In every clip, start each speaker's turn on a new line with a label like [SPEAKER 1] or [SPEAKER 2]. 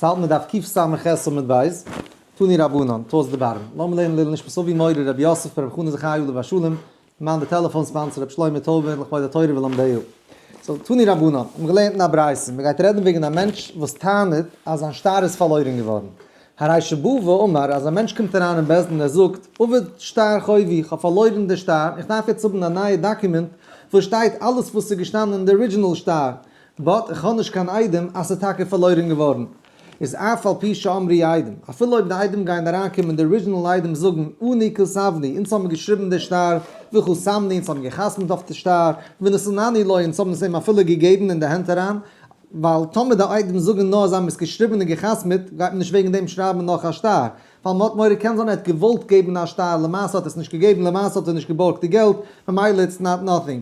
[SPEAKER 1] פאלט מען דארף קיף סמך עשו מיט בית תני רבנן תוס' דברן לאמיר לערנען לעיל נשמת אבי מורי רבי יוסף רבי חנא זכרי' עליו השלום מאן די טעלעפאן ספאנסער רבי שלמה טויבער לכבוד התורה ולומדיה סאו תני רבנן מיר האבן געלערנט אין א ברייתא מען גייט רעדן וועגן א מענטש וואס טענה'ט אז זיין שטר איז פארלוירן געווארן הרישא בא ואמר אז א מענטש קומט אריין אין בית דין ער זאגט אבד שטר חובי איך האב פארלוירן די שטר איך דארף יעצט האבן א נייע דאקומענט וואס שטייט אלעס וואס איז געשטאנען אין די ארידזשינעל שטר באט איך האב נישט קיין איידעם אז ס'איז טאקע פארלוירען געווארן. איז אף על פי שאמרי איידעם, אפילו אויב די איידעם גייען אריינקומען די ארידזשינעל איידעם זאגן אני כסבני אונז האבן געשריבן די שטר וכו סמני אונז האבן געחתמ'ט אויף די שטר ונשאני לו אונז האבן עס אים אפילו געגעבן אין די הענט אריין ווייל טאמער די איידעם זאגן נאר אז זיי האבן עס געשריבן און געחתמ'ט גייט מען נישט וועגן דעם שרייבן נאך א שטר ווייל מ'האט מורא קען זיין ער האט געוואלט געבן א שטייער למעשה האט ער עס נישט געגעבן למעשה האט ער נישט געבארגט די געלט ממילא איטס נאט נאטינג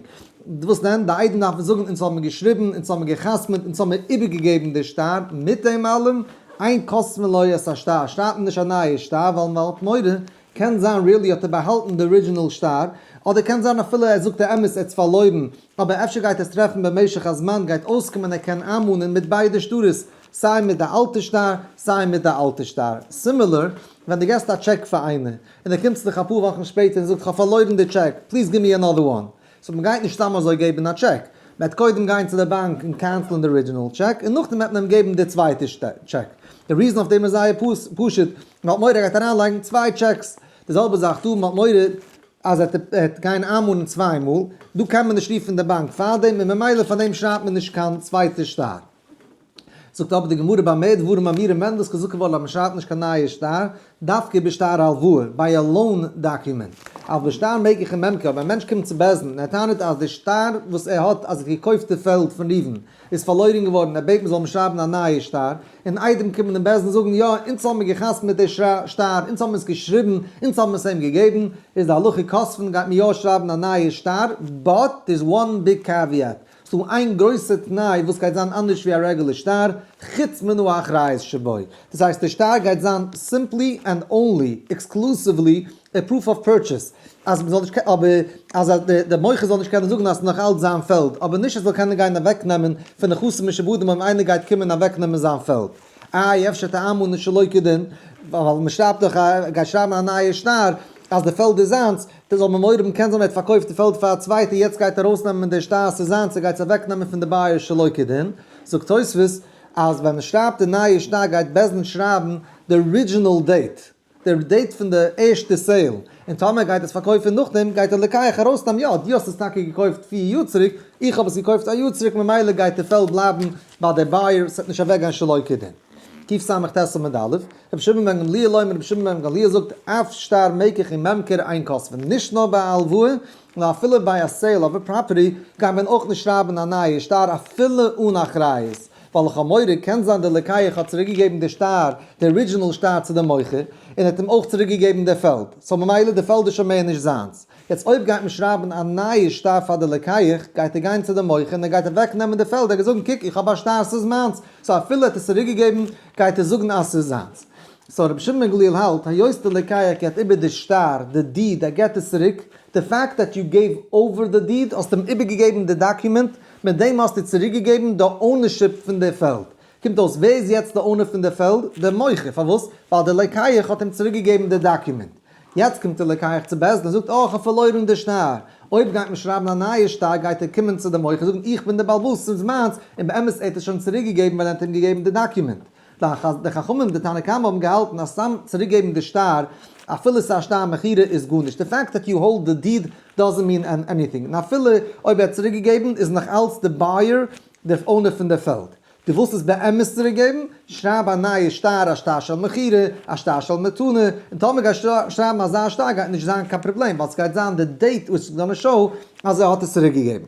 [SPEAKER 1] וואס דען די איידעם דארפן זאגן אונז האבן געשריבן אונז האבן גע'חתמ'עט אונז האבן איבערגעגעבן די שטר מיט דעם אלעם אין קאסמע לא יעש א שטר שרייבט מען נישט א נייע שטר ווייל מ'האט מורא קען זיין ריעלי האט ער באהאלטן די ארידזשינעל שטר אדער קען זיין אפילו ער זאגט אמת ער האט עס פארלוירן אבער אפשר גייט עס טרעפן במשך הזמן גייט אויסקומען ער קען איינמאנען מיט ביידע שטרות סיי מיט די אלטע שטר סיי מיט די אלטע שטר. סימילער ווען די געסט א טשעק פאר איינער און ער קומט צו דיך אפאר וואכן שפעטער און זאגט כ'האב פארלוירן די טשעק פליז גיב מיר ענאדער וואן. סאו מ'גייט נישט סתם אזוי געבן א טשעק. מ'עט קודם גיין צו די באנק און קענסלען די ארידזשינעל טשעק און נאכדעם וועט מען אים געבן די צווייטע טשעק. די ריזען אויף דעם איז זייער פשוט, מ'האט מורא ער גייט אריינלייגן צוויי טשעקס. די זעלבע זאך דא, מ'האט מורא אז ער וועט גיין איינמאל און צוויי מאל. דא קען מען נישט רופן די באנק פארדעם און ממילא פארדעם שרייבט מען נישט קיין צווייטע שטר. זאגט אבער די גמרא ביי מאה דברים אמירים ווען דאס כזקן וואלט למשאט נישט קיין נייע שטר, דווקא איבער שטר הלוואה, ביי א לאון דאקומענט. אויף די שטר מעג איך אים עמקן, אויב א מענטש קומט צו בית דין און ער טענה'ט אז די שטר וואס ער האט אז ער האט געקויפט די פעלד פון ראובן איז פארלוירן געווארן און ער בעט מען זאל אים שרייבן א נייע שטר, און איידעם קומען אין בית דין זאגן יא אונז האבן מיר געחתמ'ט מיט די שטר, אונז האבן עס געשריבן, אונז האבן עס אים געגעבן, איז די הלכה כספין גייט מען יא שרייבן א נייע שטר, באט דעירס וואן ביג קעוויעט, ס'דא איין גרויסע תנאי וואס גייט זיין אנדערש ווי א רעגולער שטר, חוץ מנא האחריות שבו, דאס הייסט די שטר גייט זיין סימפלי ענד אנלי, עקסקלוסיוולי, א פרוף אוו פורטשעס, אז מ'זאל נישט קענען, אבער אז די מוכר זאל נישט קענען זאגן אז ס'איז נאך אלץ זיין פעלד, אבער נישט ער זאל קענען גיין אוועקנעמען פון נכסים משעבודים אויב איינער גייט קומען אוועקנעמען זיין פעלד. איי אפשר טעמנו שלא כדין, ווייל מ'שרייבט דאך, גייט שרייבן א נייע שטר אז די פעלד איז זיינס, די זאל ממורם קען זיין ער האט פארקויפט די פעלד פאר א צווייטע יעצט גייט ער ארויס נעמען די שטר ס'איז זיינס ער גייט עס אוועק נעמען פון די בייער שלא כדין זאגט תוספות אז ווען מען שרייבט די נייע שטר גייט בעז ד שרייבן די ארידזשינעל דעיט די דעיט פון די ערשטע סעיל און טאמער ער גייט עס פארקויפן נאכדעם גייט ער לכאו' ארויס נעמען יא דו האסט עס טאקע געקויפט פיר יאר צוריק איך האב עס געקויפט א יאר צוריק ממילא גייט די פעלד בלייבן ביי די בייער ס'וועט נישט אוועק גיין שלא כדין. תסמ ט עמוד א', רבי שמעון בן גמליאל אומר רבי שמעון בן גמליאל זאגט אף שטר מקח און ממכר איין קאסבן, נישט נאר ביי א הלוואה, נאר אפילו ביי א סעיל אוו א פראפערטי גייט מען אויך נישט שרייבן א נייע שטר אפילו אן אחריות, ווייל לכאו' מוהרא קען זיין דער לוקח האט צוריק געגעבן די שטר, די ארידזשינעל שטר צו די מוכר, און ער האט אים אויך צוריק געגעבן די פעלד, סאו ממילא די פעלד איז שוין מער נישט זיינס, יעצט אויב גייט מען שרייבן א נייע שטר פאר די לקיח, גייט ער גיין צו די מוכר און ער גייט אוועק נעמען די פעלד, ער גייט זאגן קוק איך האב א שטר ס'איז מיינס, סאו אפילו ער האט עס צוריק געגעבן גייט ער זאגן אז ס'איז זיינס. סאו רבי שמעון בן גליל האלט, היות די לקיח געבט איבער די שטר, די דיד, ער געבט עס צוריק, די פעקט דעט יו געיוו אווער די דיד, האסט אים איבער געגעבן די דאקומענט, מיט דעם האסטו צוריק געגעבן די אונערשיפ פון די פעלד. קומט אויס ווער איז יעצט די אונער פון די פעלד? די מוכר, פארוואס? ווייל די לקיח האט אים צוריק געגעבן די דאקומענט. יעצט קומט ער לקח צו בית דין און זאגט אה כ'האב פארלוירן די שטר, אויב גייט מען שרייבן א נייע שטר גייט ער קומען צו די מוכר און זאגן איך בין דער בעלבאס ס'איז מיינס, און באמת ער האט עס שוין צוריק געגעבן ווייל ער האט אים געגעבן די דאקיומענט. די חכמים די תנא קמא האבן געהאלטן אז סתם צוריק געבן די שטר אפילו ס'איז א שטר מכירה איז גארנישט, די פעקט דעט יו האלד די דיד דאזענט מין עניטינג, און אפילו אויב ער האט צוריק געגעבן איז נאך אלץ די בייער דער אונער פון די פעלד, דו ווילסט עס באמת צוריקגעבן? שרייב א נייע שטר, א שטר של מכירה, א שטר של מתנה, און טאמער גייסט שרייבן אזא שטר גייט נישט זיין קיין פראבלעם ווייל סגייט זיין די דעיט וויטש איז גאנא שאו אז ער האט עס צוריקגעגעבן.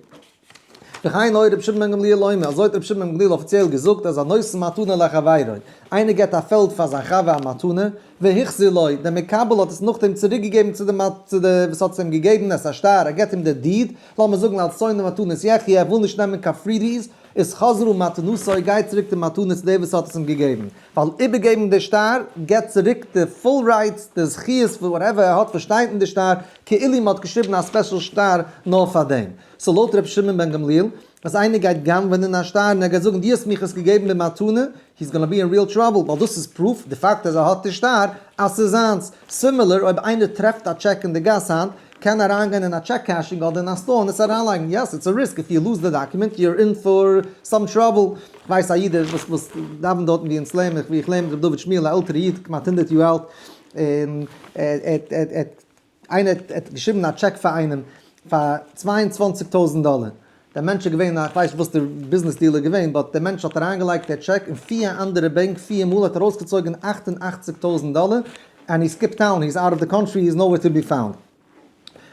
[SPEAKER 1] וכן הוי רבי שמעון בן גמליאל אומר, אזוי האט רבי שמעון בן גמליאל אפיציעל געזאגט אז הנושא מתנה לחבירו, איינער געט א פעלד פאר זיין חבר א מתנה, והחזיר לו, דער מקבל האט עס נאכדעם צוריקגעגעבן צו דעם וואס האט עס אים געגעבן, עס איז א שטר, ער געט אים די דיד, לאמיר זאגן אלס שונא מתנות יחיה, ער וויל נישט נעמען קיין פריבי'ס, איז חזרו מתנותו, גייט צוריק די מתנה צו דער וואס האט עס אים געגעבן, ווייל איבערגעבן די שטר גיבט צוריק די פול רייטס, די זכיות, וואס וואטעווער ער האט וואס שטייט אין די שטר, כאילו מען האט געשריבן א ספעשל שטר נאר פאר דעם. סאו לויט רבי שמעון בן גמליאל, אז איינער גייט גנב'ענען א שטר און ער גייט זאגן דו האסט מיך עס געגעבן במתנה, הי איז גאנא בי אין ריעל טראבל ווייל דאס איז פרוף די פאקט אז ער האט נישט קאר אז ס'איז זיינס. סימילער אויב איינער טרעפט א טשעק אין די גאס היינט קען אריינגיין אין א טשעק קעשינג אדער אין א סטאר און עס אריינלייגן. יעס איטס א ריסק איף יו לוז די דאקומענט יו אר אין פאר סאם טראבל. כ'ווייס א איד וואס וואס דאווענט דארטן ווי אונז לערן ווי איך לערן מיט ר' דוד שמואל א עלטערע איד כמעט הונדערט יאר אלט און ער האט איינער האט געשריבן א טשעק פאר איינעם פאר צוויי און צוואַנציק טויזענט דאלער, דער מענטש איז געווען א, כ'ווייס נישט וואס דער ביזנעס דיעל איז געווען, באט דער מענטש האט אריינגעלייגט דער טשעק אין פיר אנדערע בענק פיר מאל, האט ארויסגעצויגען אַכט און אַכציק טויזענט דאלער, ענד הי סקיפט טאון, הי איז אוט אוו די קאנטרי, הי איז נאו וועיר טו בי פאונד.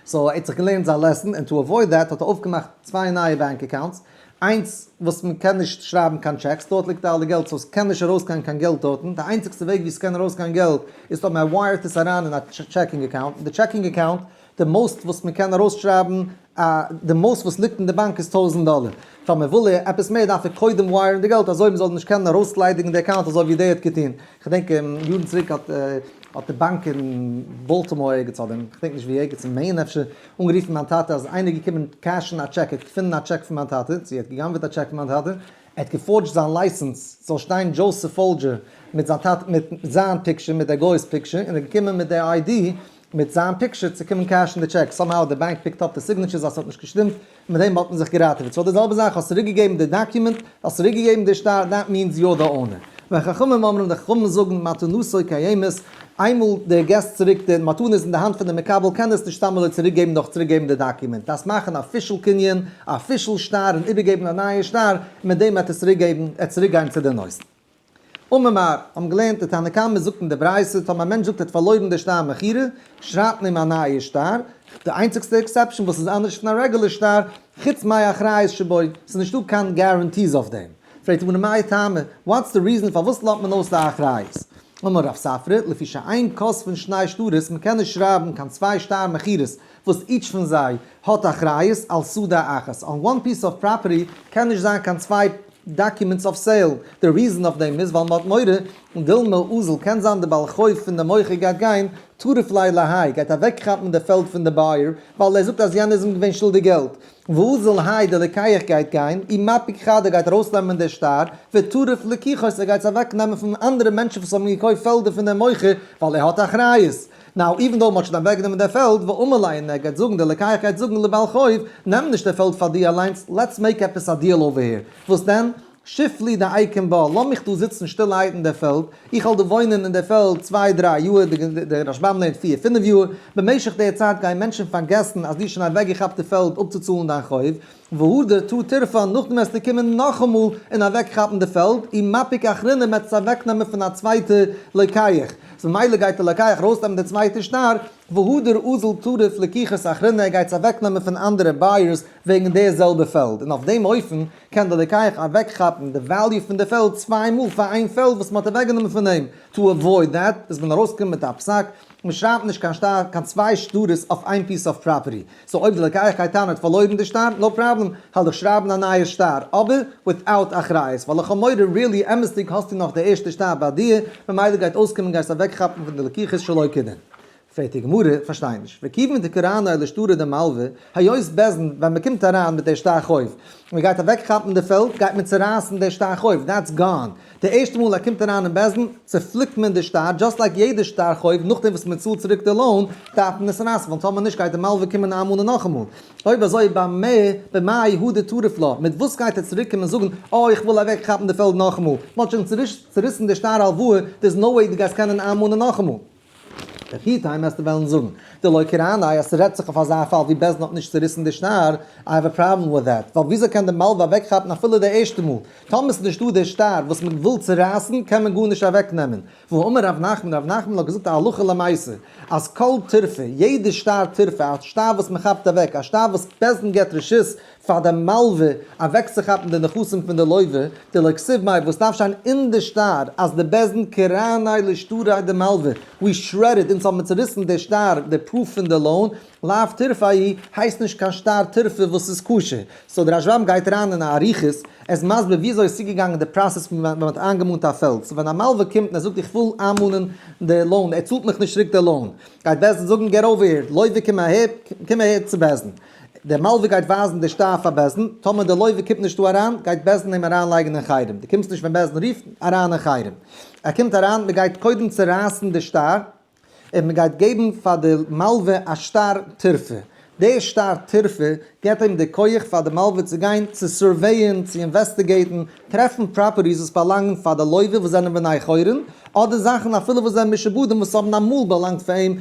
[SPEAKER 1] סאו ער האט זיך געלערנט זיין לעסען, ענד טו עוואויד דעט האט ער אויפגעמאכט צוויי נייע בענק אקאונטס, איינס וואס מען קען נישט שרייבן קיין טשעקס דארט ליגט אלע געלט סאו סקען נישט ארויסגיין קיין געלט דארטן, די איינציגסטע וועג ווי סקען ארויסגיין געלט איז טאמער מען ווייערט עס אריין אין א טשעקינג אקאונט און די טשעקינג אקאונט די מאוסט וואס מען קען ארויסשרייבן א די מאוסט וואס ליגט אין די באנק איז טויזנט דאלער פאר מען וויל עפעס מער דארף ער קודם ווייערן די געלט אזוי מען זאל נישט קענען ארויסליידיגן די אקאונט אזוי ווי דעי האט געטון כ'דענק יארן צוריק האט האט די באנק אין באלטימאר ערגעץ אדער כ'דענק נישט ווי ערגעץ אין מעין אפשר, אנגערופן מיין טאטע אז איינער איז געקומען קעשן א טשעק, ער האט געפונען א טשעק פון מיין טאטע, צו ער האט גע'גנב'עט א טשעק פון מיין טאטע, ער האט געפארדזשט זיין לייסענס ס'זאל שטיין דזשאוסעף פאלדזשער מיט זיין טאטע מיט זיין פיקטשער מיט דער גוי'ס פיקטשער און ער איז געקומען מיט דער איידי מיט זיין פיקטשער צו קומען קעשן די טשעק, סאמהאו דער באנק פיקט אפ די סיגנעטשורס אז ס'האט נישט געשטימט, מיט דעם וואלט מען זיך געראטעוועט. סאו די זעלבע זאך, האסט צוריק געגעבן די דאקיומענט, האסט צוריק געגעבן די שטר, דעט מיענס יו אר די אונער. ווען חכמים אומרים, די חכמים זאגן, מתנותו קיימת, איינמאל די געסט צוריק די מתנה איז אין די האנט פון די מקבל קען ער עס נישט סתם אזוי צוריק געבן דורך צוריק געבן די דאקיומענט, דארפסט מאכן א אפישעל קנין, א אפישעל שטר און איבער געבן א נייע שטר, מיט דעם וועט ער צוריק געבן, ער צוריק גיין צו די נושא. אממער, האבן געלערנט די תנא קמא זאגט אין די ברייתא טאמער א מענטש זאגט ער האט פארלוירן די שטר מכירה, שרייבט מען אים א נייע שטר, די איינציגסטע עקסעפשאן וואס איז אנדערש פון א רעגולער שטר, חוץ מאי אחריות שבו, ס'איז נישט דא קיין גאראנטיס אויף דעם. פרעגט הגמרא מאי טעמא, וואטס די ריזען פארוואס לאזט מען אויס די אחריות? אמר רב ספרא, לפי שאין כוס פון שני שטרות, מ'קען נישט שרייבן קיין צוויי שטר מכירות, וואס איטש פון זיי האט אחריות על סעודה אחת, אן וואן פיס אוו פראפערטי קען נישט זיין קיין צוויי דאקומענטס אויף סעיל, די ריזען אויף דעם איז ווייל מ'האט מורא דילמא אזל קען זיין די בעל חוב פון די מוכר גייט גיין טרף ליה להי גייט אוועק כאפן די פעלד פון די בייער ווייל ער זאגט אז יענער איז אים געווען שולדיג געלט ואזל האי די לוקח גייט גיין אי מפיק חד ער גייט ארויס נעמען די שטר וטרף לקיחות ער גייט עס אוועק נעמען פון אנדערע מענטשן וואס האבן געקויפט פעלדער פון דעם מוכר ווייל ער האט אחריות נאו איווען דאו מען האט שוין אוועק גענומען דער פעלד ואמר להם און ער גייט זאגן דער לקח גייט זאגן לבעל חוב נעם נישט דער פעלד פאר דיר אליינס לעטס מעיק עפעס א דיעל אווער העיר וואס דען שיף לי די אייקען בה לאז מיך דא זיצן שטילערהייט אין דער פעלד איך וועל דא וואוינען אין דער פעלד צוויי דריי יאהר דער רשב ם לערנט פיר פינף יאהר במשך דער צייט גייען מענטשן פארגעסן אז דו האסט שוין אוועק געכאפט די פעלד אפצוצאלן דיין חוב והוא דרתו תרפא, נאכדעם וועסטו קומען נאכאמאל און אוועקכאפן די פעלד, און מפיק אחרונים וועט עס אוועקנעמען פון א צווייטע לוקח, ממילא גייט די לוקח ארויסנעמען די צווייטע שטר, והוא דער אזל טרף לקיחת אחרונה, ער גייט עס אוועקנעמען פון אנדערע בייערס וועגן די זעלבע פעלד, און אויף דעם אופן קען די לוקח אוועקכאפן די וועליו פון די פעלד צוויי מאל פאר איין פעלד וואס מען האט אוועקגענומען פון אים, טו עוואויד דעט איז ווען ארויסקומט מיט א פסק, מען שרייבט נישט קיין שטר, קיין צוויי שטרות אויף איין פיס אוו פראפערטי. סאו אויב די לקח קייטאנע האט פארלוירן די שטר, נאו פראבלעם, העל דיך שרייבן א נייע שטר, אבער וויטאוט אחריות, ווייל לכאו' מורא ריעלי אמת'דיג האסטו נאך די ערשטע שטר ביי דיר, ממילא גייט אויסקומען גייסט אוועקכאפן פון די לקיחות שלא כדין. פרעגט די גמרא, פארשטיי נישט, וכיוון דקראנו אלא שטרא דמלוה, היות בעסדן ווען מען קומט אריין מיט די שטר חוב און מען גייט אוועקכאפן די פעלד גייט מען צורייסן די שטר חוב, דעטס גאון, די ערשטע מאל ער קומט אריין אין בית דין צופליקט מען די שטר, דזשאסט לייק יעדע שטר חוב, נאכדעם וואס מען צאלט צוריק די לאון דארף מען עס נייעסן, ווייל טאמער נישט גייט די מלווה קומען נאאמאל און נאכאמאל, אויב אזוי במה במה יהודה טרף לה, מיט וואס גייט ער צוריק קומען זאגן אה איך וויל אוועק כאפן די פעלד נאכאמאל, מען האט שוין צוריסן די שטר הלוואה, דער איז נאו וועי דו גייסט קענען נאאמאל און נאכאמאל. דער פֿיר טײַמעסטער װעלן זאָגן, די לױקערײַנאַי, אַז ס'רעדט זיך אױף אַזאַ פֿאַל, װי בעסן האָט נישט צעריסן די שנאַר, אײַ האַװ אַ פּראָבלעם װיט דעט, װײַל װיִאַזױ קען דער מלװה אַװעקכאַפּן אַפֿילו די ערשטע מאָל? טאָמער ס'איז נישטאָ דער שטאַר, װאָס מע װיל צערײַסן, קען מען גאָרנישט אַװעקנעמען. והאָ אמר רב נחמן, רב נחמן האָט געזאָגט אַ הלכה למעשׂה, אַז כּל טרפֿה, יעדער שטאַר טרפֿה, אַ שטאַר װאָס מע כאַפּט אַװעק, אַ שטאַר װאָס בעסן גיט רשות פאר די מלווה אוועקצוכאפן די נכסים פון די לוי'ווע, די לכסוף מאי וואס דארף שיין אין די שטר אז די בעזעם קרני לשטרי די מלווה ווי שרעדד אונז האבן צוריסן די שטר די פרוף פון די לאון לאו תרפה היא הייסט נישט קיין שטר תרפה וואס איז כשר סאו די רשב ם גייט אריין אין אריכות ער איז מסביר וויאזוי איז צוגעגאנגען די פראסעס פון ווען מען האט איינגעמאנט א פעלד סאו ווען א מלווה קומט און ער זאגט איך וויל איינמאנען די לאון ער צאלט מיך נישט צוריק די לאון גייט בעז ד זאגן געט אווער הער לוי'ווע קום אהער קום אהער צו בעז ד. דער מלווה גייט ווייזן די שטר פאר בעש ט, טאמער דער לויווע קומט נישטא אריין, גייט בעש ט אים אריינלייגן אין חרם, דו קומסט נישט ווען בעש ט רופט אריין אין חרם. ער קומט אריין, מען גייט קודם צורייסן די שטר, און מען גייט געבן פאר די מלווה א שטר טרפה, די שטר טרפה גיבט אים די כח פאר די מלווה צו גיין צו סורוועיען, צו אינוועסטיגעיטן, טרעפן פראפערטיס וואס באלאנגן פאר די לויווע וואס זענען בני חורין, אדער זאכן אפילו וואס זענען משעבודים וואס האבן אמאל באלאנגט פאר אים,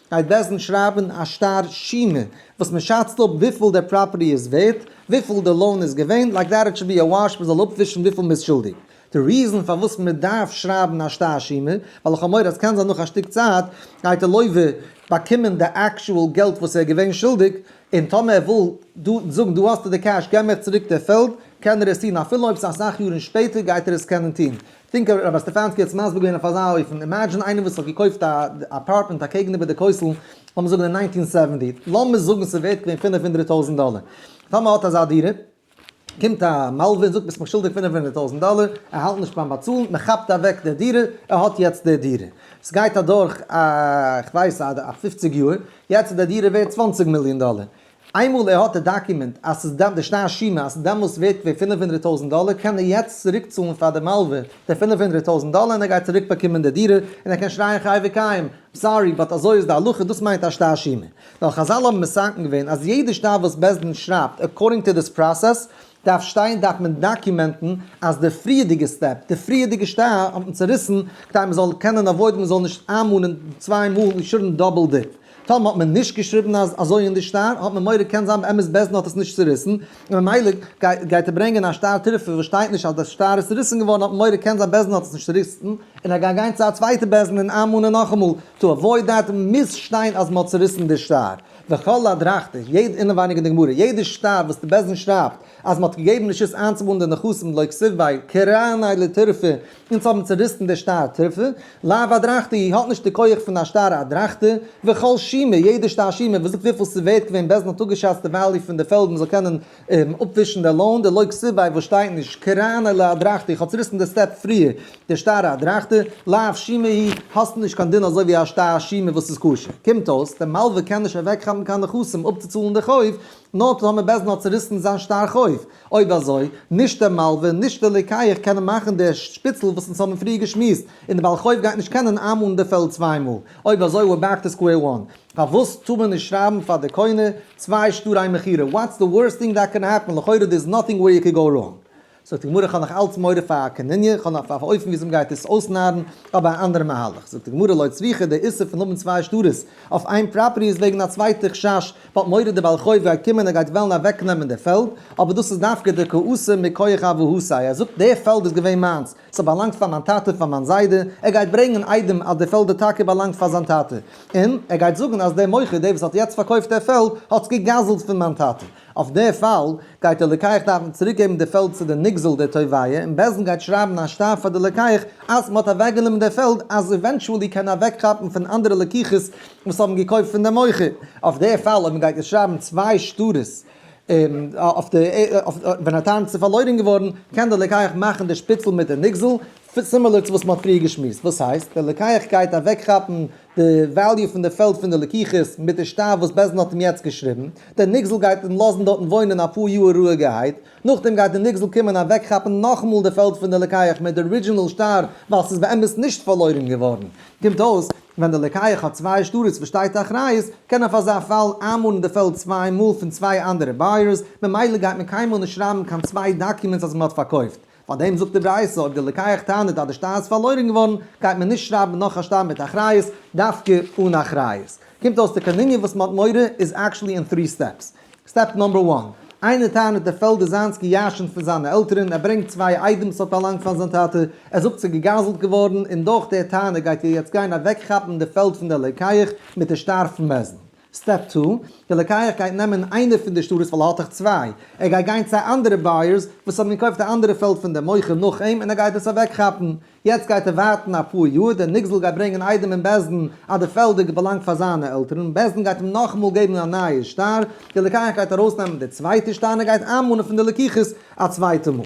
[SPEAKER 1] גייט בעסטנס שרייבן א שטר שימה וואס מען שאצט אפ וויפיל דער פראפערטי איז ווערט, וויפיל דער לאון איז געווען, לייק דעט איט שוד בי א וואש מען זאל אפווישן וויפיל מען איז שולדיג. די ריזען פארוואס מען דארף שרייבן א שטר שימה, ווייל איך האב מורא אז קען זיין נאך א שטיק צייט גייט דער לויווע באקומען די עקשועל געלט וואס ער איז געווען שולדיג, און טאמער ער וויל זאגן דא האסטו די קעש געב מיך צוריק די פעלד, קען ער עס טון אפילו אויב ס'איז אסאך יארן שפעטער גייט ער עס קענען טון, טינק האט רבי סטעפאנסקי עטס מסביר געווען אויף אזא אופן, אימעדזשין איינער וואס האט געקויפט א אפארטמענט אקעגן איבער די קויסל, לאמיר זאגן אין ניינטין סעווענטי, לאמיר זאגן ס'איז ווערט געווען פֿינף הונדערט טויזנט דאלער, טאמער האט אזא דירה, קומט א מלווה און זאגט ביסט מיך שולדיג פֿינף הונדערט טויזנט דאלער, ער האלט נישט ביים באצאלן, מען כאפט אוועק די דירה, ער האט יעצט די דירה, סגייט אדורך א כ'ווייס א פֿופֿציק יאר, יעצט איז די דירה ווערט צוואַנציק מיליאן דאלער, איינמאל ער האט די דאקומענט אז ס'איז דאן די שטר שומר אז ס'איז דעמאלטס ווערט געווען פֿינף הונדערט טויזנט דאלער קען ער יעצט צוריק צאלן פאר די מלווה די פֿינף הונדערט טויזנט דאלער און ער גייט צוריק באקומען די דירה און ער קען שרייען חי וקיים סארי באט אזוי איז די הלכה דאס מיינט א שטר שומר נאר חזל האבן מסכם געווען אז יעדע שטר וואס בית דין שרייבט עקארדינג טו דיס פראסעס דארף שטיין דארף מען דאקומענטן אז די פריערדיגע סטעפ די פריערדיגע שטר האט מען צוריסן כדי מ'זאל קענען עוואוידן מ'זאל נישט איינמאנען צוויי מאל און שארן דאבל דיט. טאמער האט מען נישט געשריבן אז אזוי אין די שטר האט מען מורא קען זיין באמת בעז ד האט עס נישט צוריסן און ממילא גייט ער ברענגען א שטר תרופה וואס שטייט נישט אז די שטר איז צוריסן געווארן האט מען מורא קען זיין בעז ד האט עס נישט צוריסן און ער גייט גיין צו א צווייטע בעז ד און איינמאנען נאכאמאל טו עוואויד דעט מוז שטיין אז מען האט צוריסן די שטר וכל הדרכתי יעדע אינעווייניג אין די גמרא יעדע שטר וואס די בעז ד שרייבט אז מען האט געגעבן רשות איינצומאלן די נכסים לא כסוף ביי קרני לתרופה אונז האבן צוריסן די שטר טריפה, לאו אדרחתא אי האט נישט די כח פון א שטר אדרחתא, וכל שימער, יעדע שטר שימער וואס זאגט וויפיל ס'איז ווערט געווען בעסטן האט אפגעשאצט די וועליו פון די פעלד מ'זאל קענען אפווישן די לאון, די לויק סיביי וואס שטייט נישט קראן אלא אדרחתא אי כ'האב צוריסן די סטעפ פריער די שטר אדרחתא, לאו שימער אי האסט נישט קיין דין אזוי ווי א שטר שימער וואס איז כשר, קומט אויס די מלווה קען נישט אוועקכאפן קיין נכסים אפצוצאלן די חוב, נאר טאמער בעז ד האט צוריסן זיין שטר חוב. אויב אזוי, נישט דער מלווה און נישט דער לוקח קענען מאכן די שפיצל וואס אונז האבן פריער געשמועסט, און דער בעל חוב גייט נישט קענען איינמאל און דערפעלט צוויי מאל. אויב אזוי ווער בעק טו סקווער וואן. פארוואס טאר מען נישט שרייבן פאר די קונה צוויי שטרי מכירה? וואטס די ווארסט טינג דעט קען העפן? לכאורה דער איז נאטינג ווער יו קען גאו ראנג. זאגט די גמרא איך האב נאך אלץ מורא פאר א קניניא, איך האב נאך פאר א אופן וויאזוי מ'גייט עס אויסנארן, אבער א אנדערע מהלך, זאגט די גמרא לויט סביחה די איסור פון האבן צוויי שטרות אויף איין פראפערטי איז וועגן א צווייטע חשש, מ'האט מורא די בעל חוב גייט קומען ער גייט וועלן אוועק נעמען די פעלד, אבער דאס איז דווקא די קאוסע מכח אבהותיי, ער זאגט די פעלד איז געווען מיינס, ס'האט באלאנגט פאר מיין טאטע פאר מיין זיידע, ער גייט ברענגען איידעם אז די פעלד האט טאקע באלאנגט פאר זיין טאטע, און ער גייט זאגן אז דער מוכר דער וואס האט יעצט פארקויפט דער פעלד האט עס גע'גזל'ט פון מיין טאטע. אויף די פאל גייט דער לוקח דארפן צוריק געבן די פעלד צו די נגזל די תובעיה און בית דין גייט שרייבן א שטראף פאר די לוקח אז מען האט אוועק גענומען די פעלד אז עווענטואלי קען אוועק כאפן פון אנדערע לוקחות וואס האבן געקויפט פון די מוכר. אויף די פאל אויב מען גייט יעצט שרייבן צוויי שטרות אויף די ווען א טענץ איז פארלוירן געווארן קען די לוקח מאכן די שפיצל מיט די נגזל סימילער צו וואס מען האט פריער געשמועסט וואס הייסט די לוקח גייט אוועק כאפן די וועליו פון די פעלד פון די לקיחות מיט די שטאף וואס בעסד האט אים יעצט געשריבן, דער נגזל גייט אים לאזן דארטן וואוינען אפאר יאהר רואיגערהייט, נאכדעם גייט די נגזל קומען אוועקכאפן נאכאמאל די פעלד פון די לקיח מיט די ארידזשינעל שטר ווייל ס'איז באמת נישט פארלוירן געווארן, קומט אויס ווען די לקיח האט צוויי שטרות וואס שטייט אחריות קען אויף אזא פאל איינמארן די פעלד צוויי מאל פון צוויי אנדערע בייערס, ממילא גייט מען קיינמאל נישט שרייבן קיין צוויי דאקומענטס אז מ'האט פארקויפט פאר דעם זאגט די ברייתא, אויב די לוקח טענה'ט אז די שטר איז פארלוירן געווארן, גייט מען נישט שרייבן נאך א שטר מיט אחריות, דווקא אן אחריות. קומט אויס די קניניא וואס מען האט מורא איז עקשעלי אין טרי סטעפס. סטעפ נאמבער וואן, איינער טענה'ט דער פעלד איז זיינס גע'ירש'נט פון זיינע עלטערן, ער ברענגט צוויי איידעמס וואס האט פארלאנגט פאר זיין טאטע, ער זאגט ס'איז געגזל'ט געווארן, און דורך דער טענה גייט איר יעצט גיין אוועקכאפן די פעלד פון דער לוקח מיט די שטר פון מזונות. סטעפ טו, דער לוקח גייט נעמען איינע פון די שטרות ווייל ער האט דאך צוויי, ער גייט גיין צו אנדערע בייערס וואס האבן געקויפט א אנדערע פעלד פון דעם מוכר נאך אים און ער גייט עס אוועקכאפן, יעצט גייט ער ווארטן אפאר יאר, דער נגזל גייט ברענגען איידעם אין בית דין אז די פעלדער געבאלאנגט פאר זיינע עלטערן, בית דין גייט אים נאכאמאל געבן א נייע שטר, דער לוקח גייט ארויסנעמען די צווייטע שטר און ער גייט איינמאנען פון די לקיחות א צווייטע מאל.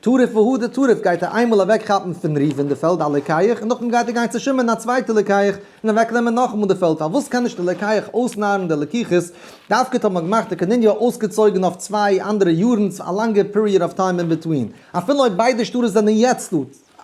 [SPEAKER 1] טרף והא דטרף גייט ער איינמאל אוועק כאפן פון ראובן די פעלד א לקיח און נאכדעם גייט ער גיין צו שמעון א צווייטע לקיח און אוועק נעמען נאכאמאל די פעלד פארוואס קען נישט די לקיח אויסנארן די לקיחות דווקא האט מען געמאכט די קנין יאר אויסגעצויגן אויף צוויי אנדערע יארן צו א לאנגע פיריעד אוו טיים אינביטווין אפילו אויב ביידע שטרות זענען יעצט דא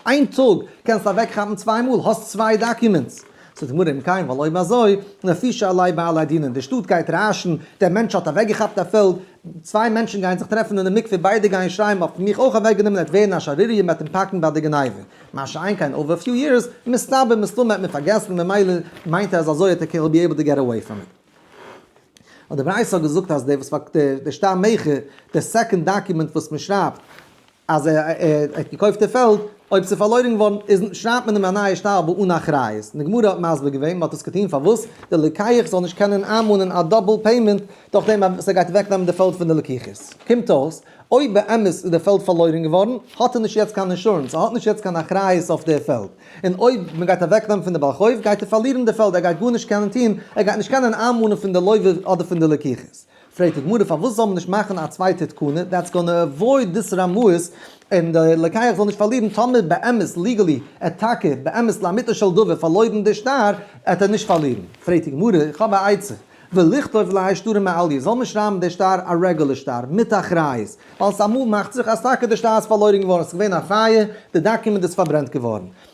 [SPEAKER 1] איין טאג קענסטו אוועק כאפן צוויי מאל האסט צוויי דאקומענטס. זאגט די גמרא אם כן ווייל אויב אזוי לפי שעלי בעלי דינים די שטאט גייט רעשן דער מענטש האט אוועק געכאפט א פעלד צוויי מענטשן גייען זיך טרעפן אינעם מקווה, ביידע גייען שרייען מ'האט מיך אויך אוועק גענומען עט ווערן א שערוריה מ'עט אים פאקן ביי די גניבה, מה שאין כן אווער פיו יערס, מסתבר מסתמא האט מען פארגעסן ממילא מיינט ער אז אזוי האט ער קען בי עיבל טו געט עוועי פראם איט. האט די ברייתא געזאגט אז דער וואס פארקויפט דער שטר מכר דער סעקאנד דאקומענט וואס מען שרייבט. אז ער האט געקויפט די פעלד, אויב ס'איז פארלוירן געווארן איז שרייבט מען אים א נייע שטר בה אן אחריות, און די גמרא האט מסביר געווען מען האט עס געטון פארוואס די לוקח זאל נישט קענען איינמאנען א דאבל פעימענט דורכדעם אז ער גייט אוועק נעמען די פעלד פון די לקיחות. קומט אויס אויב באמת איז די פעלד פארלוירן געווארן האט ער נישט יעצט קיין אינשורענס, ער האט נישט יעצט קיין אחריות אויף די פעלד, און אויב מען גייט אוועק נעמען פון די בעל חוב גייט ער פארלירן די פעלד, ער גייט גארנישט קענען טון, ער גייט נישט קענען איינמאנען פון די לווה אדער פון די לקיחות. פרעגט די גמרא פארוואס זאל מען נישט מאכן א צווייטע תקנה, דעטס גאנע עוואויד דיס רמאות, און די לוקח זאל נישט פארלירן, טאמער באמת ליגעלי ער טאקע באמת לאמיתו של דבר פארלוירן די שטר, עט ער נישט פארלירן. פרעגט די גמרא, איך האב א עצה, ולכתוב ליה שטרה מעליה, זאל מען שרייבן די שטר א רעגולער שטר, מיט אחריות, ווייל ס'אמאל מאכט זיך אז טאקע די שטר איז פארלוירן געווארן, ס'איז געווען א פייער, די דאקומענט איז פארברענט געווארן,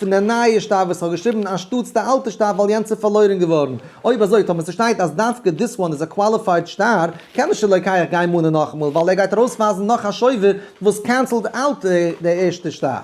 [SPEAKER 1] פון די נייע שטאף וואס איך האב געשריבן אנשטאטס די אלטע שטאף ווייל יענץ איז פארלוירן געווארן. אויב אזוי טאמער ס'שטייט אז דווקא דיס וואן איז א קוואליפייד שטאר קען מען שלא כיח גיין מאנען נאכאמאל ווייל ער גייט ארויסווייזן נאך א שובב וואס קענסלד אוט די ערשטע שטאר.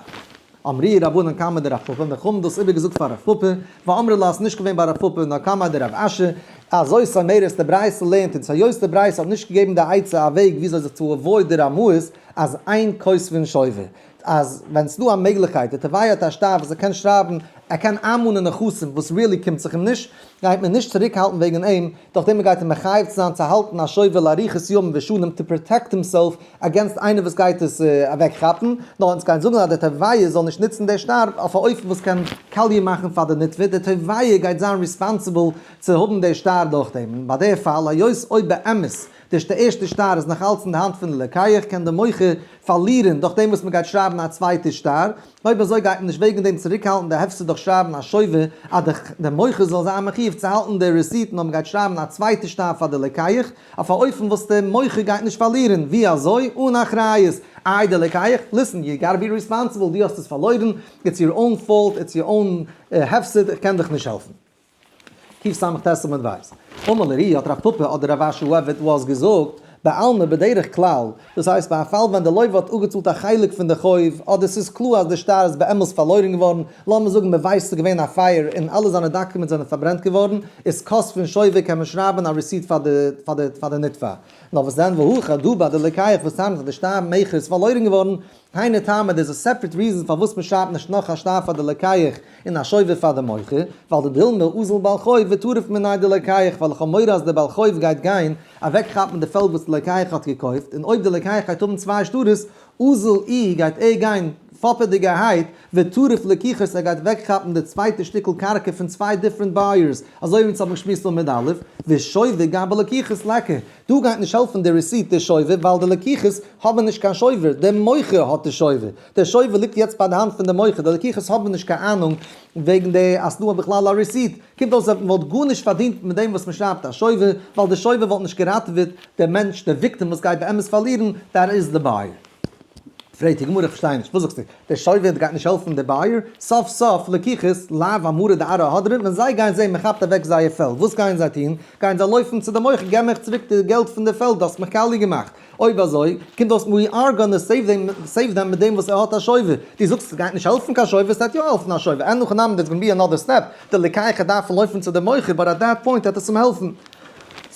[SPEAKER 1] אמרי רבנן קמא דרב פפא, מיר האבן דאס איבערגעזאגט פאר רב פפא, ואמרי לה עס איז נישט געווען ביי רב פפא נאר קמא דרב אשי, אזוי סאמעירס די ברייתא לערנט אונז היות די ברייתא האט נישט געגעבן די עצה א וועג וויאזוי זיך צו עוואויד די רמאות אז איין כוס פון שובב. אז ווען ס'דא א מעגליכקייט די טבעיה האט א שטאף אז ער קען שרייבן, ער קען איינמאנען נכסים וואס ריעלי קומט זיך אים נישט, גייט מען נישט צוריק האלטן וועגן אים, דורך דעם מ'גייט אים מחייב צו זיין צו האלטן א שובל לאריכות ימים ושנים טו פראטעקט הימסעלף אגעינסט איינער וואס גייט עס אוועק כאפן, נאר אונז גייען זאגן אז די טבעיה זאל נישט נוצן די שטאף אויף א אופן וואס קען קאליע מאכן פאר די נתבע, די טבעיה גייט זיין ריספאנסיבל צו האבן די שטאר דורך דעם, און ביי די פאל היות אויב באמת. די ערשטע שטר איז נאך אלץ אין די האנט פון די לוקח, קען די מוכר פארלירען דורך דעם וואס מען גייט שרייבען א צווייטע שטר, אויב אזוי גייט מען נישט וועגען דעם צוריק האלטען די הפסד דורך שרייבען א שובר אז די מוכר זאל זיין מחיוב צו האלטען די רעסיט נאר מען גייט שרייבען א צווייטע שטר פאר די לוקח אויף א אופן וואס די מוכר גייט נישט פארלירען, ווי אזוי? אן אחריות! איי די לוקח? ליסען, יו גאטע בי ריספאנסיבעל, דו האסט עס פארלוירען, איטס יור און פאולט, איטס יור און הפסד, איך קען דיך נישט העלפען. קסמ ט עמוד ו. אמר לרי' האט רב פפא אדער רב אשר וואס וועט וואס געזאגט, בעלמא בדרך כלל, דאס הייסט ביי א פאל ווען דער לויווע האט אפגעצאלט א חלק פון די חוב, אדער ס'איז קלאר אז די שטר איז באמת פארלוירן געווארן, לאמיר זאגן מען ווייסט ס'איז געווען א פייער און אלע זיינע דאקומענטס זענען פארברענט געווארן, איז קאסט פון שויווע קען מען שרייבן א רעסיט פאר די פאר די נתבע. נאר וואס דען והא הכא דא ביי די לוקח וואס טענה'ט אז די שטר מכר איז פארלוירן געווארן, קיינע טעמען דעס איז סעפרעט ריזענס פארוואס מען שרייבט נישט נאך א שטר פאר די לקיח און א שובב פאר די מוכר ווייל די דילמא אזל בעל חוב וועט טרף מינאי די לקיח ווייל איך האב מורא אז די בעל חוב גייט גיין אוועק כאפן די פעלד וואס די לקיח האט געקויפט און אויב די לקיח גייט האבן צוויי שטרות אזל אי גייט ער גיין פאפעדיגערהייט וועט טרף לקיחות ער גייט אוועק כאפן די צווייטע שטיקל קרקע פון צוויי דיפרענט בייערס אזוי ווי אונז האבן געשמועסט עמוד א' ושובב גם בלקיחות לכה דא גייט נישט העלפן די רעסיט די שובב ווייל די לקיחות האבן נישט קיין שובב די מוכר האט די שובב די שובב ליגט יעצט ביי די האנט פון די מוכר די לקיחות האבן נישט קיין אהנונג וועגן די אז סדא בכלל א רעסיט קומט אויס אז מען וואלט גארנישט פארדינט מיט דעם וואס מען שרייבט א שובב ווייל די שובב וואלט נישט געראטעוועט די מענטש די וויקטעם וואס גייט באמת פארלירן דער איז די בייער. פרעגט די גמרא איך פארשטיי נישט, וואס זאגסטו? דער שופט גייט נישט העלפן די בייער? סוף סוף לקיחות לאו אמרא דארעא הדרא, ווען זיי גייען זען מען כאפט אוועק זייער פעלד, וואס גייען זיי טון? גייען זיי לויפן צו די מוכר, געב מיך צוריק די געלט פון די פעלד, דו האסט מיך קאליע געמאכט. אויב אזוי קומט אויס ווי אר גאנא סעיוו דעם סעיוו דעם מיט דעם וואס ער האט א שויבער. דו זאגסט עס גייט נישט העלפן קיין שויבער, עס וועט יא העלפן א שויבער, ענ הכי נמי דערס גאנא בי ענאדער סטעפ, די לקיחה דארף פון לויפן צו די מוכר, באט עט דעט פוינט העט עס אים העלפן.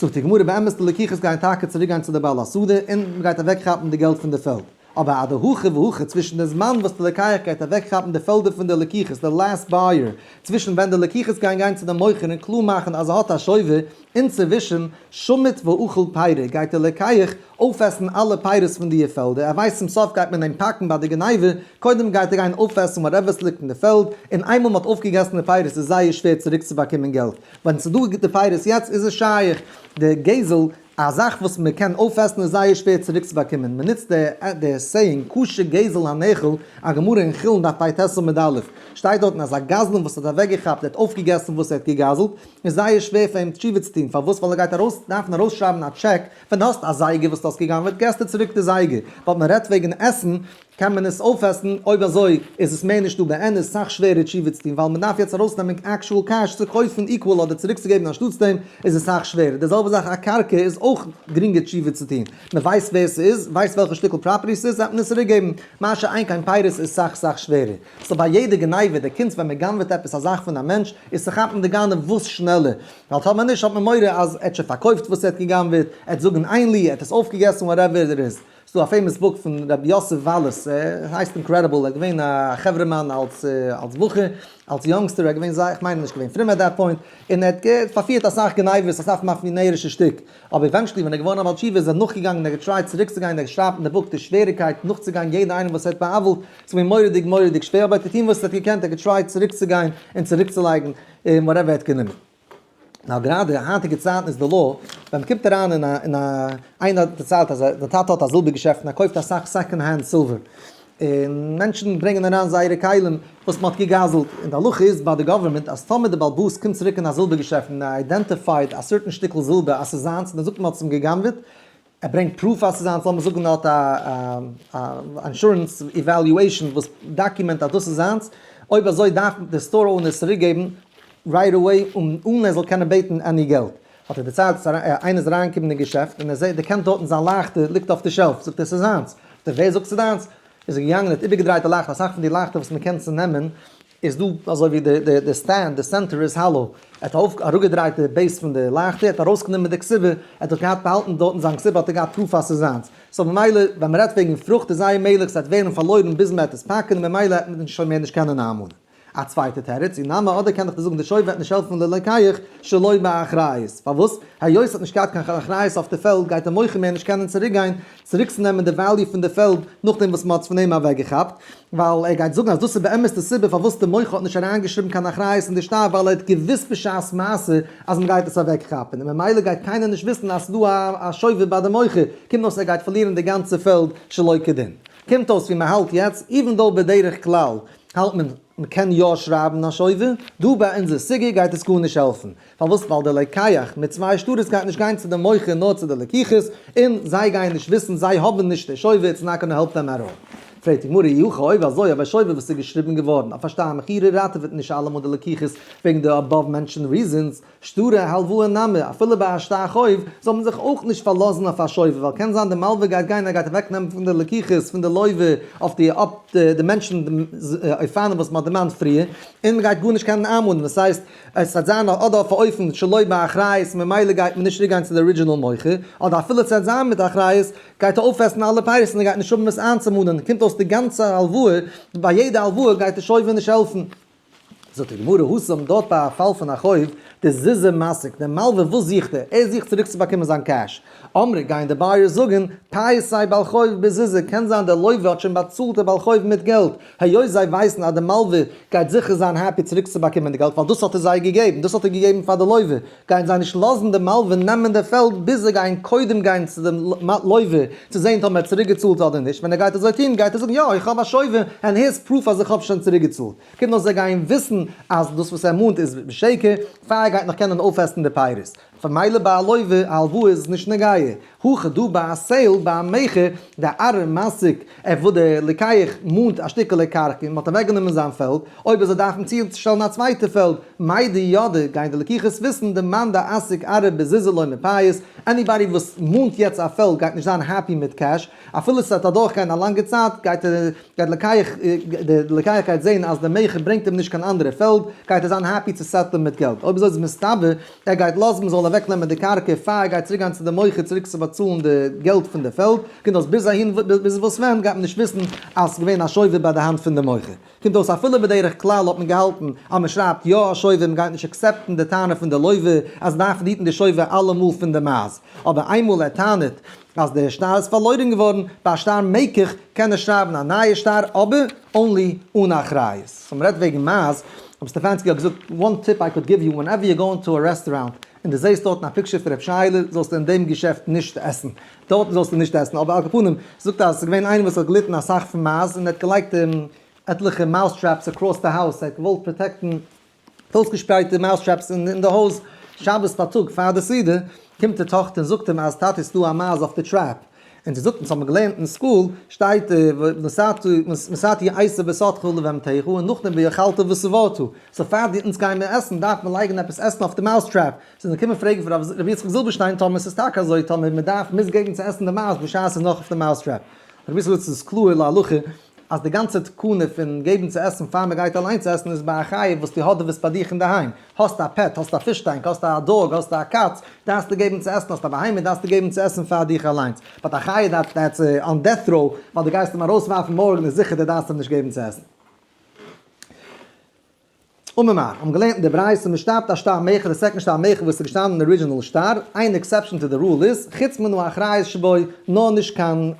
[SPEAKER 1] זאגט די גמרא באמת די לקיחות גייען טאקע צוריק גיין צו די בעל השדה און מען גייט אוועק כאפן די געלט פון די פעלד, אבער אדער הכי והכי צווישן די זמן וואס די לקיח גייט אוועק כאפן די פעלדער פון די לקיחות די לעסט בייער צווישן ווען די לקיחות גייען גיין צו די מוכר און קלאר מאכן אז ער האט א שויבער אינצווישן שומט ואוכל פירה גייט די לקיח אויפעסן אלע פירות פון דיע פעלדער ער ווייסט צום סוף גייט מען אים פאקן ביי די גניבה קודם גייט ער גיין אויפעסן וואטעווער וואס ליגט אין די פעלד און איינמאל מען האט אויפגעגעסן די פירות איז זייער שווער צוריק צו באקומען געלט ווען ס'איז דא גוטע פייערס יעצט איז עס שייך, די גזל, א זאך וואס מען קען אויפעסן איז זייער שווער צוריק צו באקומען, מען נוצט די סעיאינג קשה גזל הנאכל, א גמרא אין חולין דף פ ט סמ ד א, שטייט דארטן אז א גזלן וואס האט אוועק געכאפט, ער האט אויפגעגעסן וואס ער האט געגזלט, איז זייער שווער פאר אים תשובה צו טון, פארוואס ווייל ער גייט ארויס דארפן ארויסשרייבן א טשעק, ווען דו האסט א זייגער וואס דו האסט געגנבעט געסטו צוריק די זייגער, באט מען רעדט וועגן עסן, קען מען עס אויפעסן? אויב אזוי איז עס מער נישט דא באמת סאך שווערע תשובה צו טון ווייל מען דארף יעצט ארויסנעמען עקשועל קעש צו קויפן איקוועל אדער צוריקצוגעבן אנשטאטס דעם איז עס סאך שווערער די זעלבע זאך א קרקע איז אויך גרינגער תשובה צו טון מען ווייסט ווער ס'איז ווייסט וועלכע שטיקל פראפערטי ס'איז וועט מען עס צוריקגעבן מה שאין קיין פיירות איז סאך סאך שווערער סאו ביי יעדע גניבה די קונץ ווען מען גנב'עט עפעס א זאך פון א מענטש איז צו כאפן די גנב וואס שנעלער ווייל טאר מען נישט האט מען מורא אז ער האט שוין פארקויפט וואס ער האט געגנב'עט ער האט זאגן איין ליע ער האט עס אויפגעגעסן וואטעווער איט איז ס'דא א פעימאס בוק פון ר' יוסף וואלעס, ס'הייסט אינקרעדיבל, ער איז געווען א חברה'מאן אלס אלס בחור, אלס יונגסטער, ער איז געווען זייער, כ'מיין ער איז נישט געווען פרום עט דעט פוינט, און ער האט געהערט פארפירט אסאך גניבות, אסאך מאפיאנערישע שטיק, אבער עווענטשעלי ווען ער איז געווארן א בעל תשובה איז ער נאכגעגאנגען, ער האט געטרייט צוריקצוגיין, ער שרייבט אין די בוק די שוועריקייט נאכצוגיין יעדע איינעם וואס ער האט בא'עוול'ט, ס'איז געווען מורא'דיג מורא'דיג שווער, אבער ער האט געטון וואס ער האט געקענט, ער האט געטרייט צוריקצוגיין און צוריקצולייגן וואטעווער ער האט גענומען. נאר גראדע אין היינטיגע צייטן איז די לאו, ווען מ'קומט אריין אין א אין א, איינער האט דערציילט אז די טאטע האט א זילבער געשעפט און ער קויפט אסאך סעקאנד הענד סילווער, און מענטשן ברענגען אריין זייערע כלים וואס מען האט געגזל'ט, און די הלכה איז ביי די גאווערמענט אז טאמער די באלבאס קומט צוריק אין א זילבער געשעפט און ער איידענטיפייד א סערטען שטיקל זילבער אז ס'איז זיינס און ער זאגט מען האט עס אים גע'גנב'עט, ער ברענגט פרוף אז ס'איז זיינס, לאמיר זאגן ער האט א א אינשורענס איוועליועישן וואס דאקומענט אז דאס איז זיינס, אויב אזוי דארף די סטאר אונער עס צוריק געבן רייט עוועי אן ער זאל קענען בעטן עני געלט. האט ער דערציילט אז איינער איז אריין געקומען אין געשעפט און ער זעהט דערקענט דארטן זיין לייכטער ליגט אויף די שעלף, זאגט ער ס'איז זיינס, זאגט ער ווער זאגט ס'איז דיינס? איז ער געגאנגען האט איבערגעדרייט די לייכטער, אסאך פון די לייכטער וואס מ'קען צונעמען, איז דא אזוי ווי די די די סטענד די סענטער איז האלאו ער האט אויף אראפגעדרייט די בעיס פון די לייכטער ער האט ארויסגענומען די קציבה ער האט דאך געהאט באהאלטן דארטן זיין קציבה האט ער געהאט פרוף אז ס'איז זיינס סאו ממילא ווען מען רעדט וועגן פרוכט איז זייער מעגליך ס'וועט ווערן פארלוירן ביז מען וועט עס פאקן און ממילא וועט מען שוין מער נישט קענען איינמאנען א צווייטע תירוץ אי נמי אדער קען דאך די זאגן די שופ וועט נישט העלפן ללקח שלא באחריות פארוואס היות ער האט נישט געהאט קיין אחריות אויף די פעלד גייט די מוכר מער נישט קענען צוריקגיין צוריקצונעמען די וועליו פון די פעלד נאכדעם וואס מען האט עס פון אים אוועקגעכאפט, ווייל ער גייט זאגן אז דאס איז באמת די סיבה פארוואס די מוכר האט נישט אריינגעשריבן קיין אחריות אין די שטר ווייל ער האט געוואוסט בשעת מעשה אז מען גייט עס אוועקכאפן און ממילא גייט קיינער נישט וויסן אז ס'דא א שובב ביי די מוכר, קומט אויס ער גייט פארלירן די גאנצע פעלד שלא כדין. קומט אויס ווי מען האלט יעצט, איווען דאו בדרך כלל האלט מען מען קען יא שרייבן א שובב, דא ביי אונזער סוגיא גייט עס גארנישט העלפן, פארוואס? ווייל דער לקיח מיט צוויי שטרות גייט נישט גיין צו דעם מוכר נאר צו די לקיחות, און זיי גייען נישט וויסן, זיי האבן נישט דער שובב, איטס נאט גאנא העלפ דעם עטאל. פרעגט די גמרא, יהא כ אויב אזוי, אויב א שובב וואס איז געשריבן געווארן אויף א שטר מכירה ראטעוועט נישט אלעמאל די לקיחות וועגן די אבאוו מענטשענד ריזענס, שטרי הלוואה נמי, אפילו ביי א שטר חוב, זאל מען זיך אויך נישט פארלאזן אויף א שובב, ווייל קען זיין די מלווה גייט גיין, ער גייט אוועק נעמען פון די לקיחות פון די לוי'ווע אויף די אויף די מענטשענד אופנים וואס מען האט דערמאנט פריער, און מען גייט גארנישט קענען איינמאנען, וואס הייסט, עס וועט זיין אדער אויף א אופן שלא באחריות ממילא גייט מען נישט צוריקגיין צו די ארידזשינעל מוכר, אדער אפילו עס וועט זיין מיט אחריות גייט ער אויפעסן אלע פייערס און ער גייט נישט האבן וואס איינצומאנען, קומט אויס די גאנצע הלוואה, ביי יעדע הלוואה גייט די שויבער נישט העלפן. זאגט די גמרא הוסם דארט ביי א פאל פון א חוב, די זיזע משיג, די מלווה וואס זוכט ער? ער זוכט צוריקצובאקומען זיין קעש. אמרי גייען די בייערס זאגן, טייער סיי בעל חוב בזיזה, קען זיין דער לויווע האט שוין באצאלט די בעל חוב מיט געלט, היות זיי ווייסן אז די מלווה גייט זיכער זיין העפי צוריקצובאקומען די געלט ווייל דאס האט ער זיי געגעבן, דאס האט ער געגעבן פאר די לויווע, גייען זיי נישט לאזן די מלווה נעמען די פעלד ביז זיי גייען קודם גיין צו דעם לויווע צו זען טאמער ער האט צוריקגעצאלט אדער נישט, ווען ער גייט אזוי טון גייט ער זאגן יא איך האב א שויווע ענד היערס פרוף אז איך האב שוין צוריקגעצאלט, קומט נאך זיי גייען וויסן אז דאס וואס ער מאנט איז שקר, פאר ער גייט נאך קענען אויפעסן די פירות. פון מיילע ביי א לויווע א הלוואה איז עס נישט נוגעי הוא כ דא ביי א סעיל ביי א מכר דער ארעם מעסיק ער וואס דער לוקח מאנט א שטיקעלע קרקע און מען האט אוועק גענומען זיין פעלד אויב וועט זיי דארפן צו שטעלן א צווייטע פעלד מיידי ידע גייען די לוקחת וויסן די מאן די עסק ארעב בזיזה לא מפייס עניבאדי וואס מאנט יעצט א פעלד גייט נישט זיין העפי מיט קעש אפילו ס'וועט אדורכגיין א לאנגע צייט, גייט ער לקיח די לקיח גייט זען אז די מכר ברענגט אים נישט קיין אנדערע פעלד, גייט ער זיין העפי צו סעטלען מיט געלט. אויב אזוי איז מסתבר ער גייט לאזן מען זאל אוועקנעמען די קרקע פאר ער גייט צוריק גיין צו די מוכר צוריק צו באצאלן די געלט פון די פעלד. קומט אויס ביז אהין ביז וואס ווען גייט מען נישט וויסן אז ס'איז געווען א שובר ביי די האנט פון די מוכר. קומט אויס אפילו בדרך כלל האט מען געהאלטן אז מען שרייבט יא א שובר מען גייט נישט עקסעפטן די טענה פון די לוי' אז מען דארף היטן די שובר אלעמאל פון די מייז. אבער איינמאל ער טענה'ט אז דער שטר איז פארלוירען געווארן ביי א שטר מקח קען ער שרייבן א נייע שטר אבער אנלי אן א אחריות. סאו מ'רעדט וועגן מאז. רב סטעפאנסקי האט געזאגט one tip i could give you whenever you're going to a restaurant און די זעהסט דארטן א פיקשער פון ר' שייעלע זאלסטו אין דעם געשעפט נישט עסן דארטן זאלסטו נישט עסן אבער על כל פנים זאגט אז עס איז געווען איינער וואס האט געליטן אסאך פון מאז און ער האט געלייגט עטליכע mouse traps across the house ער האט געוואלט פראטעקטן אויסגעשפרייטע מייז טרעפס אין די הויז, שבת פארטאג פאר די סעודה קומט די טאכטער און זאגט אים אז טאטי ס'איז דא א מייז אויף די טרעפ, און זי זאגט אונז האבן געלערנט אין סקול שטייט ונשאתי עשב וסתך לבהמתיך און נאכדעם ואכלת ושבעת, סאו פאר די אונז גיימער עסן דארף מען לייגן עפעס עסן אויף די מייז טרעפ, זענען געקומען פרעגן פון רבי יצחק זילבערשטיין טאמער ס'איז טאקע אזוי טאמער מ'דארף מוז געבן צו עסן די מייז בשעת ס'איז נאך אויף די מייז טרעפ, רבי יצחק זאגט ס'איז קלאהר להלכה. אז די גאנצע תקנה פון געבן צו עסן פאר מען גייט אליינס עסן איז ביי א חיה וואס די האדעוועסט ביי דיך אינדערהיים, האסט א פעט, האסט א פיש טענק, האסט א דאג, האסט א קאץ, דארפסטו געבן צו עסן, האסט א בהמה, דארפסטו געבן צו עסן פאר דיך אליינס. באט א חיה דעטס דעטס אן דעט ראו, ווייל די גייסט אים ארויסווארפן מארגן איז זיכער די דארפסט אים נישט געבן צו עסן. אממער, האבן געלערנט אין די ברייתא משתא פתא שתא מיחד די סעקאנד שטר מיחד וואס איז געשטאנען אין ארידזשינעל שטר, איין עקסעפשאן טו די רול איז, חוץ מן האחריות שבו, נאר נישט קיין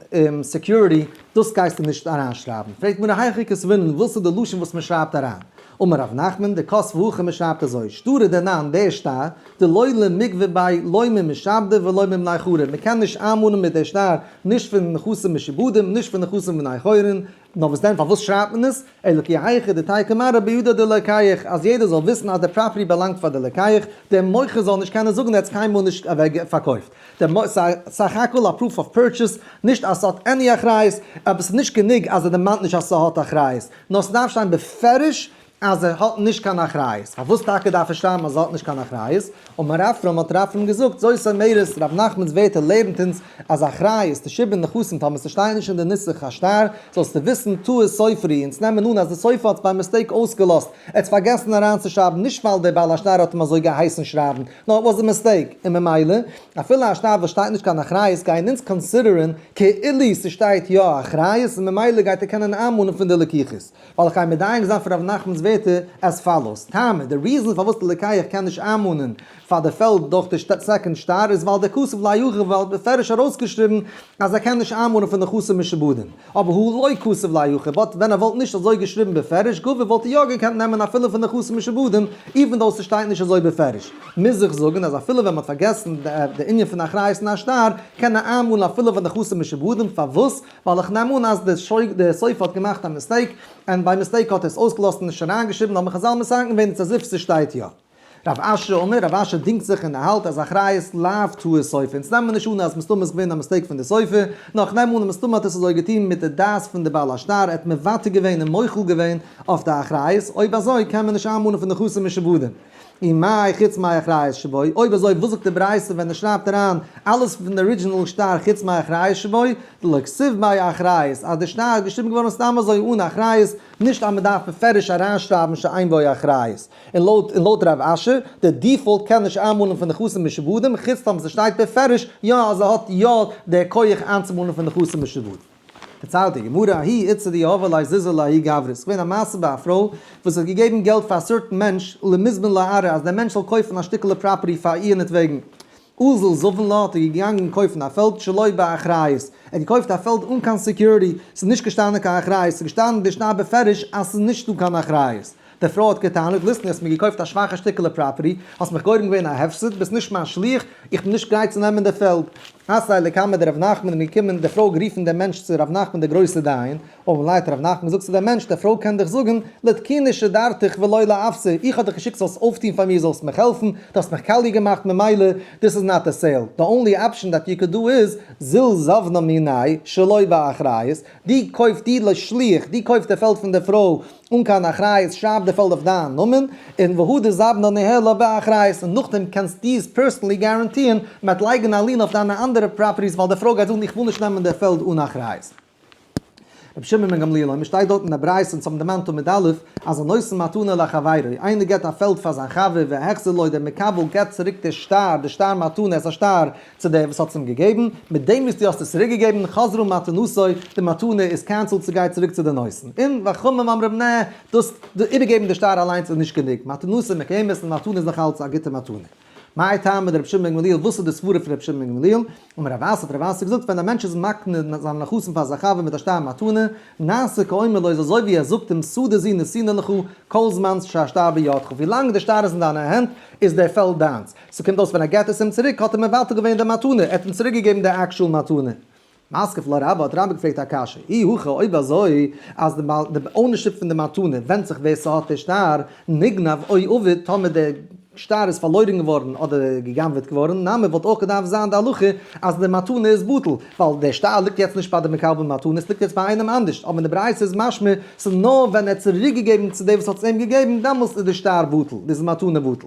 [SPEAKER 1] סעקיוריטי, דאס גייסטו נישט אריינשרייבן. פרעגט מיר היכי כסווינן וואס איז די לשון וואס מען שרייבט אריין. אמר ר' נחמן, די כוס והכא מען שרייבט אזוי, שטרא דערנאן דער שטר, דלא למקווה ביי, לא ממשעבדי ולא ממני חורין, מען קען נישט איינמאנען מיט דער שטר נישט פון נכסים משעבודים נישט פון נכסים בני חורין, נאר וואס דען פארוואס שרייט מען עס, אלוקי היכא דתי' כמרא ביהודה דלקח, אז יעדער זאל וויסן אז די פראפערטי באלאנגט פאר די לקח, דער מוכר זאל נישט קענען זאגן ער האט עס קיינמאל נישט אוועק פארקויפט, סך הכל א פרוף אוו פורטשעס, נישט אז ס'האט עני אחריות, אבער ס'איז נישט גענוג אז ער דערמאנט נישט אז ס'האט אחריות, נאר ס'דארף שטיין בפירוש אז ער האט נישט קיין אחריות, פארוואס טאקע דארף ער שרייבן אז ער האט נישט קיין אחריות, און מר אפרים האט ר' אפרים געזאגט, זויס אמרת, ר' נחמנ'ס ווערטער לערנט אונז אז אחריות, די שבעה נכסים, פאר מיר ס'שטייען נישט אין די נוסח השטר, זאלסטו וויסן טעות סופרי, אונז נעמען אן אז די סופר האט עס ביי מיסטעיק אויסגעלאזט, ער האט עס פארגעסן אריינצושרייבן, נישט ווייל דער בעל השטר האט אים אזוי געהייסן שרייבן, נאר איט וואזס א מיסטעיק, און ממילא, אפילו א שטר וואס שטייט נישט קיין אחריות גייען אונז קאנסידערען כאילו ס'שטייט יא אחריות, און ממילא גייט ער קענען איינמאנען פון די לקיחות. וועל איך אייך מדייק זיין פון ר' נחמנ'ס ווערטער עז פאלאוס, טעמער, די ריזען פארוואס די ליקייער קען נישט איינמאנען פאר די פעלד דורך די סעקאנד סטאר איז ווייל דער כסף לא יחכם ווייל ער האט מפרש ארויסגעשריבן אז ער קען נישט איינמאנען פון די חסר משעבדים אבער הוא לא כסף לא יחכם באט ווען ער וואלט נישט אזוי געשריבן בפירוש גו' וואלט ער יא געקענט נעמען אפילו פון די חסר משעבדים איווען דאו ס'שטייט נישט אזוי בפירוש מוז איך זאגן אז אפילו ווען מ'האט פארגעסן די ענין פון אחריות אין א שטר קען ער איינמאנען אפילו פון די חסר משעבדים פארוואס ווייל איך נעם אן אז די סופר האט געמאכט א מיסטעיק, און ביי מיסטעיק האט ער עס אויסגעלאזט און נישט אריינגעשריבן, האבן חזל מסכם געווען איטס עז איף ס'שטייט יא. רב אשר אומר, רב אשר דינגט זיך און ער האלט אז אחריות לאו טעות סופר, אונז נעמען נישט אן אז מסתמא איז געווען א מיסטעיק פון די סופר, נאר איך נעם אן אז מסתמא האט ער עס אזוי געטון מיט די דעת פון די בעל השטר, ער האט מוותר געווען און מוחל געווען אויף די אחריות, אויב אזוי קען מען נישט איינמאנען פון די חסר משעבודים. און מאי חוץ מאי אחראי שבוי, אויב אזוי וואס זאגט די ברייתא ווען ער שרייבט אריין אלעס פון די ארידזשינעל שטר חוץ מאי אחראי שבוי, דלא כסוף באי אחריות, אז די שטר איז געשריבן געווארן סתם אזוי אן אחריות, נישט אז מען דארף מפרש אריינשרייבן שאין באי אחריות, און לויט און לויט רב אשר, די דיפאלט קען נישט איינמאלן פון נכסים משעבודים, חוץ טאמער ס'שטייט בפירוש יא אז ער האט יא די כח איינצומאלן פון נכסים משעבודים. דערציילט די גמרא א הי' איצא די הוה ליה זיזא לה הי' גברא, ס'איז געווען א מעשה ביי א פרוי וואס האט געגעבן געלט פאר א סארטן מענטש למזבן לערה אז דער מענטש זאל קויפן א שטיקעלע פראפערטי פאר איהרנעטוועגן אזל זבן לה האט ער געגאנגען קויפן א פעלד שלא באחריות, ער האט געקויפט א פעלד אן קיין סעקיוריטי, ס'איז נישט געשטאנען קיין אחריות, ס'איז געשטאנען דערשט א בפירוש אז ס'איז נישטא קיין אחריות. די פרוי האט געטענה'ט, ליסטען האסט מיר געקויפט א שוואכע שטיקעלע פראפערטי, האסט מיך גורם געווען א הפסד, ביסט נישט מיין שליח, איך בין נישט גרייט צו נעמען די פעלד. עשאי לקמא דרב נחמן איז געקומען, די פרוי האט גערופען דעם מענטש צו רב נחמן דער גרויסער דיין, אויבן ליידט רב נחמן זאגט צו דעם מענטש, די פרוי קען דיך זאגען, לתקיני שדרתיך ולא לאפסי, איך האב דיך געשיקט זאלסט אויפטוהן פאר מיר, זאלסט מיך העלפען, דו האסט מיך קאליע געמאכט ממילא דיס איז נאט א סעיל, די אנלי אפשען דעט יו קען דא איז, זיל זבנא מיני', שלא באחריות, דו קויפט דו לשליח, דו קויפט די פעלד פון די פרוי, אן קיין אחריות שרייב די פעלד אויף דיין נאמען און והוא דזבנא נהלה באחריות און נאכדעם קענסט דו עס פערסענלי גאראנטירן מ'עט לייגן א לין אויף דיינע אנדערע פראפערטיס ווייל די פרוי גייט זאגן איך וויל נישט נעמען די פעלד אן אחריות. רבי שמעון בן גמליאל אויב מ'שטייט דארט אין די ברייתא צו האבן דערמאנט תמיד א' אז הנושא מתנה לחבירו איינער געבט א פעלד פאר זיין חבר והחזר לו דער מקבל געבט צוריק די שטר די שטר מתנה עס א שטר צו דער וואס האט עס אים געגעבן, מיט דעם וואס דו האסט עס צוריק געגעבן, חזרה מתנתו, די מתנה איז קענסעלד, ס'גייט צוריק צו די נושאים. און ואכהמ אמרם נע, דאס איבערגעבן די שטר אליינס איז נישט גענוג, מתנתו מקיימת, די מתנה איז נאך אלץ א גוטע מתנה. מאי טעמא דרבי שמעון בן גמליאל, וואס איז די סברה פון רבי שמעון בן גמליאל? אמר רב אסי, האט רב אסי געזאגט, ווען א מענטש איז מקנה זיין נחשון פאר זיין חבר מיט א שטר מתנה, נעשה כאומר לו, איז אזוי ווי ער זאגט אים שדה זו נשינא לך, כל זמן שהשטר בידך, ווילאנג דער שטר איז אין דיינע הענט, איז דער פעלד דיינס. ס'קומט אויס ווען ער געט עס אים צוריק האט ער מבטל געווען די מתנה, ער האט אים צוריק געגעבן די עקשועל מתנה. משכב לה רבא האט רבא געפרעגט א קשיא, אי הכא אויב אזוי אז די בעל די אוינערשיפ פון די מתנה ווענדט זיך ווער ס'האט די שטר, נגנב אוי אבד טאמער די שטר איז פארלוירן געווארן אדער גע'גנב'עט געווארן נמי וואלט אויך געדארפט זיין די הלכה אז די מתנה איז בטל ווייל די שטר ליגט יעצט נישט ביי די מקבל מתנה ס'ליגט יעצט ביי איינעם אנדערשט אבער אין די ברייתא איז משמע ס'נאר ווען ער האט צוריק געגעבן צו די וואס האט עס אים געגעבן דעמאלטס איז די שטר בטל איז די מתנה בטל.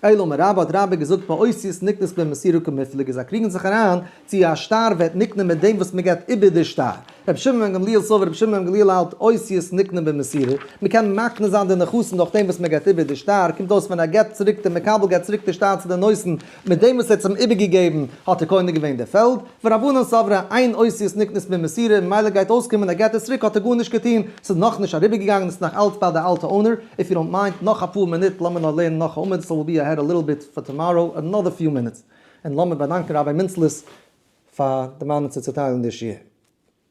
[SPEAKER 1] אלא מה רבא האט רבא געזאגט מעושיות נקנות במסירה כמפלגה זיי קריגן זיך אריין צי א שטר ווערט נקנה מיט דעם וואס מען געבט איבער די שטר, רבי שמעון בן גמליאל סבור רבי שמעון בן גמליאל האלט עושיות נקנה במסירה, מען קען מקנה זיין די נכסים דורך דעם וואס מען געבט איבער די שטר, קומט אויס ווען ער געבט צוריק דער מקבל געבט צוריק די שטר צו די נושאים מיט דעם וואס ער האט אים איבערגעגעבן האט ער קונה געווען די פעלד, ורבנן סברא אין עושיות נקנות במסירה ממילא גייט אויסקומען ער געבט עס צוריק האט ער גארנישט געטון, ס'איז נאכנישט אריבערגעגאנגען, ס'איז נאך אלץ ביי די אלטע אונער, איף יו דאנט מיינד, נאך אפאר מינוט לאמיר נאר לערנען נאך א עמוד, סאו וויל בי אהעד א ליטל ביט פאר טאמאראו, אנאדער פיו מינוטס, און לאמיר באדאנקען ראביי מינצליס פאר דערמאנען צו צוטיילן די שיעור.